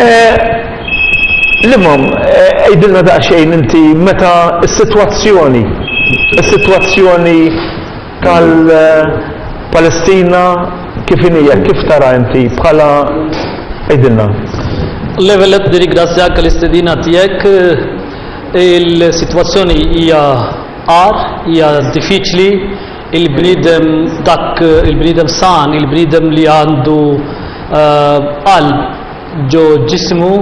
Eh, l-imam, eh, għidilna daqsxejn inti meta s-sitwazzjoni, is-sitwazzjoni tal-Palestina kif inija, kif tara inti bħala għidilna. Levelet nirringrazzjak l-istedina tiegħek il-sitwazzjoni hija għar, hija diffiċli, Il-bniedem, dak il-bniedem san, il-bniedem li għandu qalb ġo ġismu,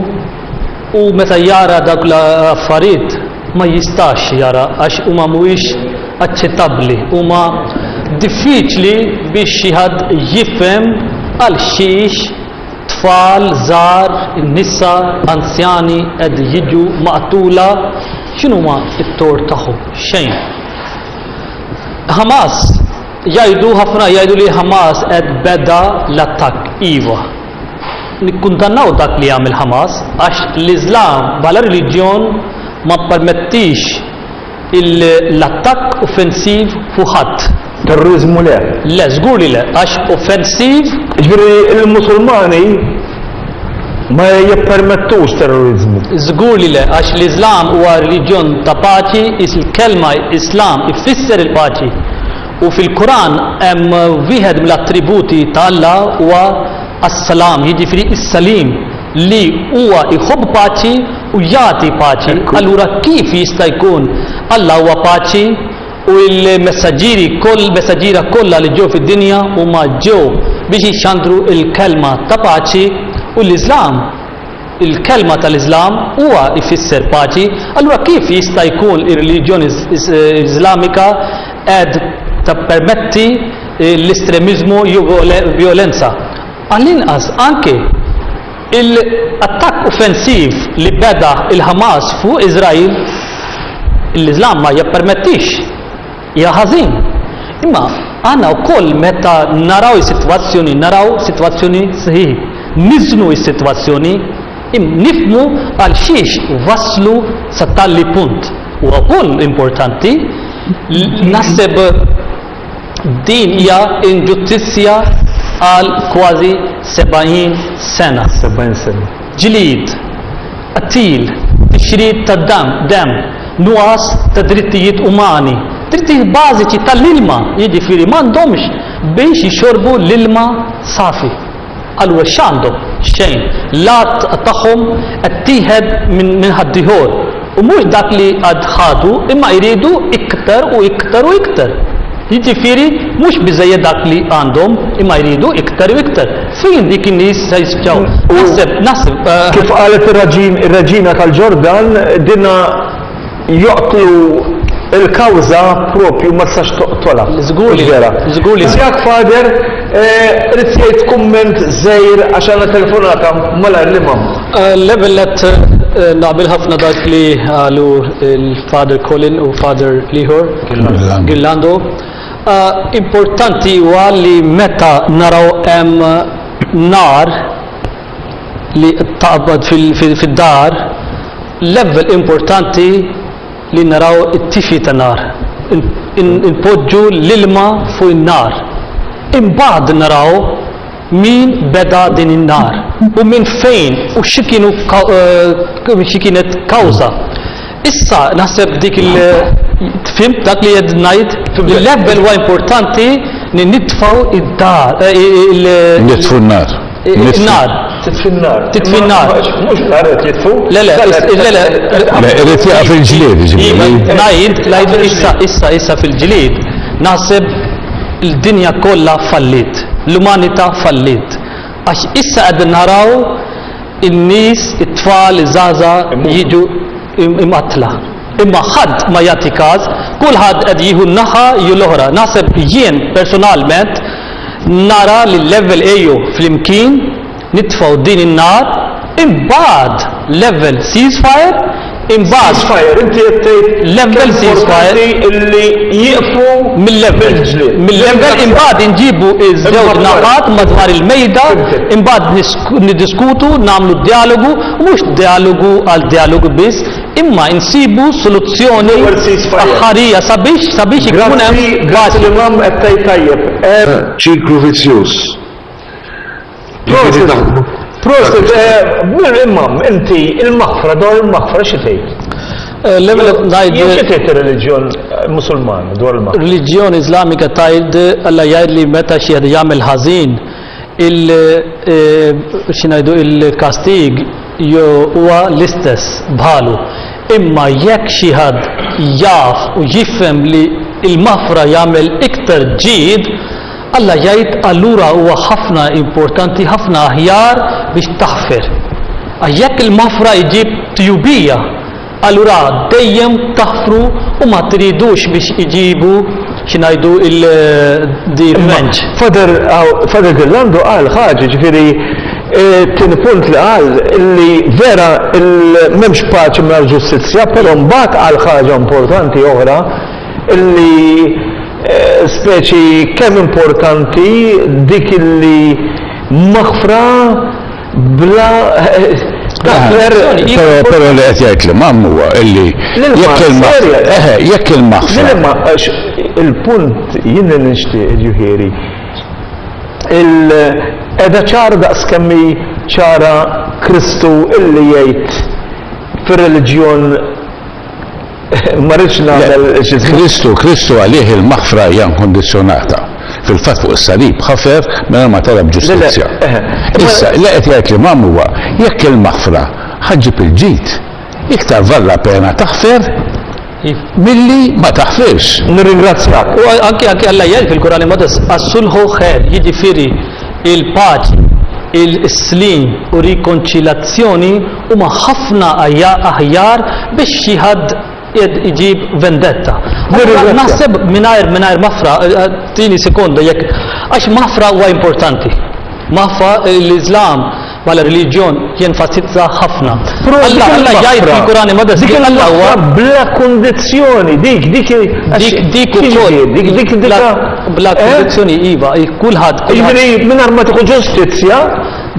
hu meta jara dawk l-affarijiet ma jistax jara għax huma mhuwiex aċċettabbli, huma diffiċli biex xi ħadd jifhem għal xiex tfal żgħar, nisa, anzjani qed jiġu maqtula, x'inhuma t-tort tagħhom? Xejn. Hamas jgħidu ħafna jgħidu li Hamas qed beda l-attakk iva. Nikkuntannaw dak li jagħmel Hamas għax l-Iżlam bħala reliġjon ma ppermettix l-attakk offensiv fuq ħadd. Terrorizmu le. Le, żgur li le, għax offensiv. Ġifieri l-Musulmani Ma jippermettux terroriżmu. Żgur li le, għax l-Iżlam huwa reliġjon ta' paċi, is l-kelma Islam ifisser il-paċi. U fil-Quran hemm wieħed mill-attributi ta' Alla huwa as-Salam, jiġifieri s-Salim, li huwa jħobb paċi u jagħti paċi. Allura kif jista' jkun Alla huwa paċi U l-messaġġieri koll, messaġġiera kollha li ġew fid-dinja huma ġew biex jixxandru l-kelma ta' paċi, u l-Iżlam, il-kelma tal-Iżlam huwa jfisser paċi, allura kif jista' jkun ir-reliġjon Iżlamika qed tappermetti l-estremiżmu jew vjolenza? Għall-inqas anke. Il-attakk offensiv li beda l-Ħamas fuq Iżrael, l-Iżlam ma jippermettix, hija ħażin. Imma aħna wkoll meta naraw is-sitwazzjoni, naraw sitwazzjoni sħiħ, niżnu s-sitwazzjoni, nifhmu għal xiex waslu sa tali punt. Huwa wkoll importanti, naħseb, Din hija inġustizzja għal kważi 70 sena. 70 sena. Ġlied, qtil, tixrid ta' dam, dem, nuqqas ta' drittijiet umani, drittijiet bażiċi tal-ilma, jiġifieri m'għandhomx biex jixorbu l-ilma safi. Għaliex x'għandhom? Xejn. L-għadd tagħhom qed tieħed minn ħaddieħor, u mhux dak li għad ħadu imma jridu iktar u iktar u iktar. Jiġifieri mhux biżżejjed dak li għandhom imma jridu iktar u iktar. Fejn dik in-nies se jispiċċaw? Naħseb, naħseb. Eh, Kif qalet ir-reġina tal-Ġordan, dinha joqtlu l-kawża proprju ma tistax toqtolha. Żgur li vera. Żgur li. Żjak Father, rrid tgħid kumment żgħir għax għandna telefonata malajr l-Imam. L-ewwel nett naqbel ħafna dak li qalu l-Father Colin u Father l-ieħor Girlando. Importanti huwa li meta naraw hemm nar li taqbad fid-dar, l-ewwel importanti li naraw it-tifi ta' nar. Inpoġġu l-ilma fuq in-nar. Imbagħad naraw min beda din in-nar u minn fejn u xi kienu eh, xi kienet kawża. Issa naħseb dik il fhimt dak li qed ngħid li l-ewwel huwa importanti li nitfgħu id-dar il Nitfu n-nar. Nar. Titfi n-nar. Titfi n-nar. Mhux nar qed jitfu. Le le, le le. Irid jaqa' fil-ġlied jiġifieri. Ngħid, ngħid issa issa issa fil-ġlied naħseb il-dinja kollha fallit. L-umanità fallit. Għax issa qegħdin naraw in-nies, it-tfal, iż-żgħażagħ jiġu mqattla. Imma ħadd ma jagħti każ, kulħadd qed jieħu n-naħa jew l-oħra. Naħseb jien personalment nara li l-level ejjew flimkien nitfgħu din in-nar, imbagħad level ceasefire Imbagħad fire inti qed tgħid level importanti illi jieqfu mill-level mill-level imbagħad inġibu ż-żewġ naħat madwar il-mejda imbagħad niddiskutu nagħmlu d-djalogu u mhux djalogu għal djalogu biss imma insibu soluzzjoni aħħarija sabiex sabiex ikun hemm paċi. Ċiklu vizzjuż. Prosit, prosit, eh, imam, inti il-maħfra, dwar il-maħfra xi tgħid? Eh, L-ewwel ngħid. Xi tgħid ir-reliġjon eh, Musulman dwar il-maħfra? Reliġjon Iżlamika tgħid Alla jgħid li meta xi jagħmel ħażin il-xinajdu il-kastig huwa l-istess bħalu. Imma jekk xi ħadd jaf u jifhem li il-maħfra jagħmel iktar ġid, Alla jgħid, Allura huwa ħafna importanti, ħafna aħjar biex taħfer. Għax jekk il-maħfra iġib tjubija, allura dejjem taħfru u ma tridux biex iġibu xi ngħidu il-revenge. Father Father Ghirlando qal ħaġa, jiġifieri it-tieni punt li qal li vera m'hemmx paċi mingħajr ġustizzja, però mbagħad qal ħaġa importanti oħra li speċi kemm importanti dik li maħfra bla daħfer Però li qed jgħid l-imam huwa illi jekk il-maħfra jekk il-maħfra il-punt jien li nixtieq ġifieri qiegħda ċara daqs kemm hi ċara Kristu illi jgħid fir-reliġjon Ma rridx nagħmel xi żball. Kristu, Kristu għalih il-maħfra hija inkundizzjonata. Fil-fatt fuq is-salib ħafer mingħajr ma talab ġustizzja. Issa, li qed jgħid l-Imam huwa, jekk il-maħfra ħa ġġib il-ġid, iktar valla pena taħfer milli ma taħfirx. Nirringrazzjak. U anki anki Alla jgħid fil-Kurani Modes, as-sulħu ħer, jiġifieri il-paċi, il-slim u rikonċilazzjoni huma ħafna aħjar biex xi ħadd qiegħed iġib vendetta. Allura naħseb mingħajr mingħajr mafra tini sekonda jekk għax mafra huwa importanti. Mafra l-Iżlam bħala reliġjon jenfasizza ħafna. Alla Alla jgħid fil-Kurani ma dik Alla huwa bla kundizzjoni dik dik dik dik ukoll dik dik bla eh? kundizzjoni iva kulħadd. Jiġri mingħajr ma tieħu ġustizzja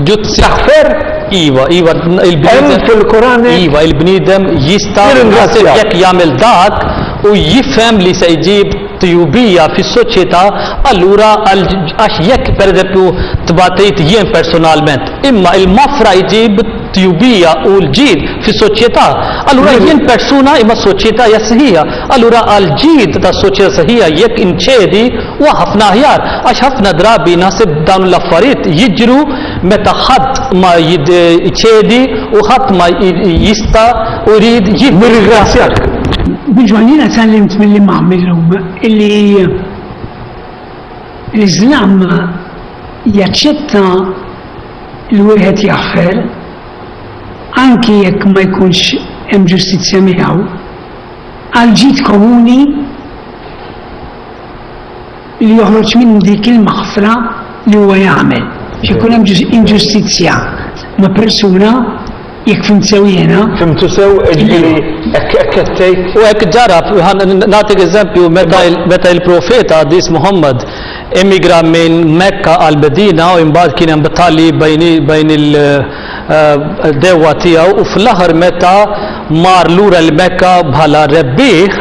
Ġud Saħfer, Iva, iva, il-bniedem. Hemm fil-Kur'an. Iva, il-bniedem jista' jirringrazzja jekk jagħmel dak u jifhem li se jġib tjubija fis-soċjetà allura għax jekk pereżempju tbatejt jien personalment. Imma il-mafra jġib tjubija u l-ġid fis-soċjetà. Allura jien persuna imma s-soċjetà hija sħiħa. Allura għall-ġid tas-soċjetà sħiħa jekk inċedi Huwa ħafna aħjar għax ħafna drabi naħseb dawn l-affarijiet jiġru meta ħadd ma jċedi u ħadd ma jista' u jrid jieħu. Nirringrazzjak. Biġwan jiena tgħallimt mill-Imam illum illi l-Iżlam jaċċetta li wieħed jaħfer anki jekk ma jkunx hemm ġustizzja miegħu għal ġid komuni li joħroġ minn dik il-maħfra li huwa jagħmel. Ikun hemm inġustizzja ma' persuna jekk fimt sew jiena. Fimtu sew ġifieri hekk qed tgħid. U hekk ġara nagħtik eżempju meta il-profeta Qadis Muhammad emigra minn Mekka għal Medina u imbagħad kien hemm battalji bejn il-dewwa eh, tiegħu u fl-aħħar meta mar lura l-Mekka bħala rebbieħ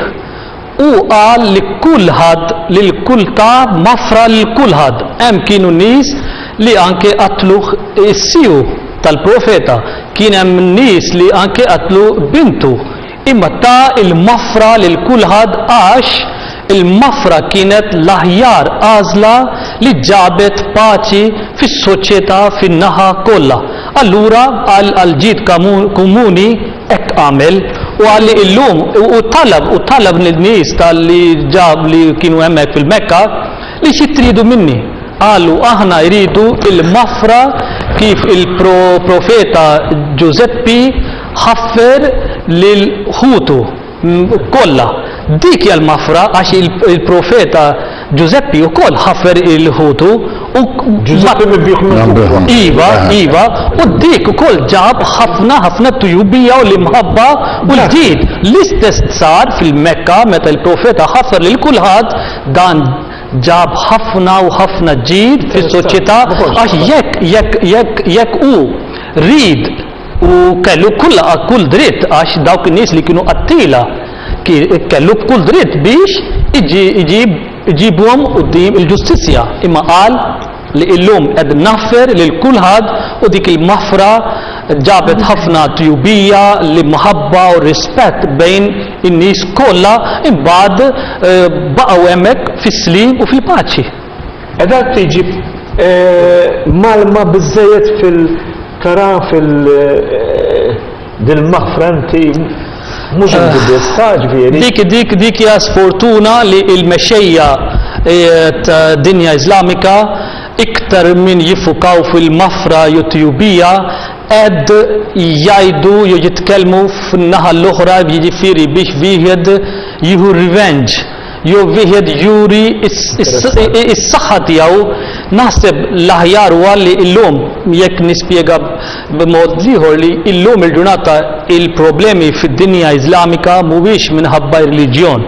Hu qal li kulħadd li l-kultà mgħaffra lil kulħadd. Hemm kienu nies li anke qatluh is-sieħu tal-profeta. Kien hemm nies li anke qatlu bintu. Imma ta l-mgħaffra lil kulħadd għax il-mgħaffra kienet l-aħjar għażla li ġabet paċi fis-soċjetà fin-naħa kollha. Allura, qal għall-ġid komuni, Hekk għamel, u qal li illum, u talab, u talab lin-nies ta' li ġab li kienu hemmhekk fil-Mekka, li xi tridu minni? Qalu, aħna jridu l-maħfra kif il-Profeta Ġużeppi ħaffer lil ħutu. kollha. Dik hija l-mafra għax il-profeta Ġużeppi wkoll ħaffer il-ħutu u Ġużeppi mibbigħ mill-Kufra. Iva, iva, u dik ukoll ġab ħafna ħafna tujubija u l-imħabba u l-ġid. L-istess sar fil-Mekka meta l-profeta ħaffer lil kulħadd dan ġab ħafna u ħafna ġid fis-soċjetà għax jekk jekk jekk jekk hu ried U kellu kull kull dritt għax dawk in-nies li kienu qattila kellu b'kull dritt biex iġibhom quddiem il-ġustizzja, imma qal li illum qed nagħffer lil kulħadd u dik il-maħfra ġabet ħafna tjubija, l-imħabba u r-rispett bejn in-nies kollha imbagħad baqgħu hemmhekk fis-sliem u fil-paċi. Qiegħda tiġi mgħallma biżżejjed fil tara fil dil-maħfra inti mhux inti biss, ta' ġifieri. Dik dik dik hija sfortuna li l-mexxejja tad-dinja Iżlamika iktar minn jiffukaw fil-maħfra jew tjubija qed jgħidu jew jitkellmu fin-naħa l-oħra jiġifieri biex wieħed jieħu revenge Jew wieħed juri s-saħħa tiegħu, naħseb l-aħjar huwa li llum, jekk nispjega b'mod ieħor li llum il-ġurnata l-problemi fid-dinja Iżlamika mhuwiex minħabba r-reliġjon.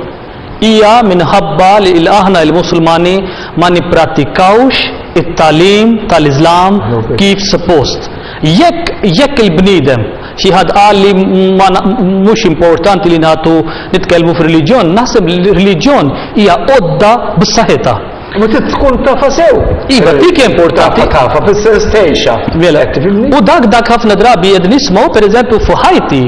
Hija minħabba li aħna il-Musulmani ma nipprattikawx it-tagħlim tal-Iżlam kif suppost. Jekk, jekk il-bniedem, xi ħadd qal li ma, mhux importanti li nagħtu, nitkellmu f'reliġjon, naħseb li r-reliġjon hija għodda b'saħħitha. Imma trid tkun tafha sew. Iva, dik hija importanti. Tafha, tafha, fis-sens tgħixha. Mela, qed tifhimni? U dak, dak ħafna drabi qed nismgħu, pereżempju, fuq ħajti,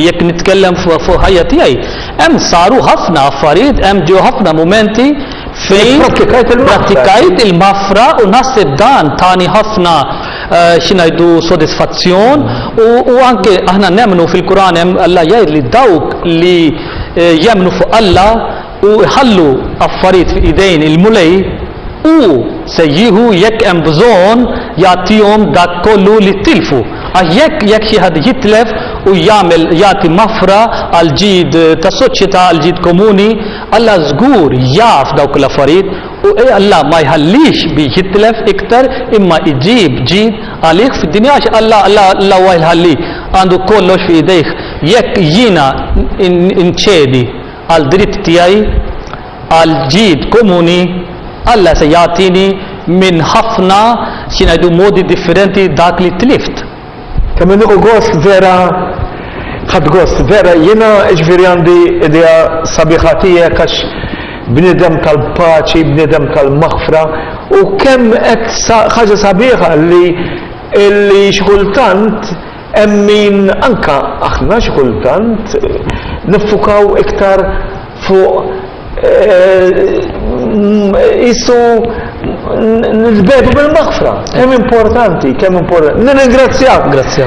jekk nitkellem fuq fuq ħajja tiegħi, hemm saru ħafna affarijiet, hemm ġew ħafna mumenti fejn Ipprattikajt il-maħfra. prattikajt il-maħfra u naħseb dan tani ħafna xi ngħidu, sodisfazzjon u, u anke aħna nemmnu fil-Kuran hemm Alla jgħid li dawk li eh, jemmnu fuq Alla u jħallu affarijiet f'idejn il-mulej u se jieħu jekk hemm bżonn jagħtihom dak kollu li tilfu. Għax jekk jekk xi ħadd jitlef u jagħmel jagħti mafra għal ġid tas-soċjetà għal ġid komuni, Alla żgur jaf dawk l-affarijiet U Alla ma jħallix biex jitlef iktar imma iġib ġid għalih fid-dinja għax Alla Alla huwa il-Ħalli għandu kollox fi idejh. Jekk jiena nċedi għal dritt tiegħi għal ġid komuni, Alla se jagħtini minn ħafna xi ngħidu modi differenti dak li tlift. Kemm inniqu gost vera ħadd gost vera jiena ġifieri għandi idea sabiħa tiegħek għax bniedem tal-paċi, bniedem tal-maħfra u kemm qed ħaġa sabiħa li li xi kultant hemm min anke aħna xi kultant niffukaw iktar fuq Issu nitbedu bil-maħfra. Kemm importanti, kemm importanti. Nirringrazzjak. Grazzja.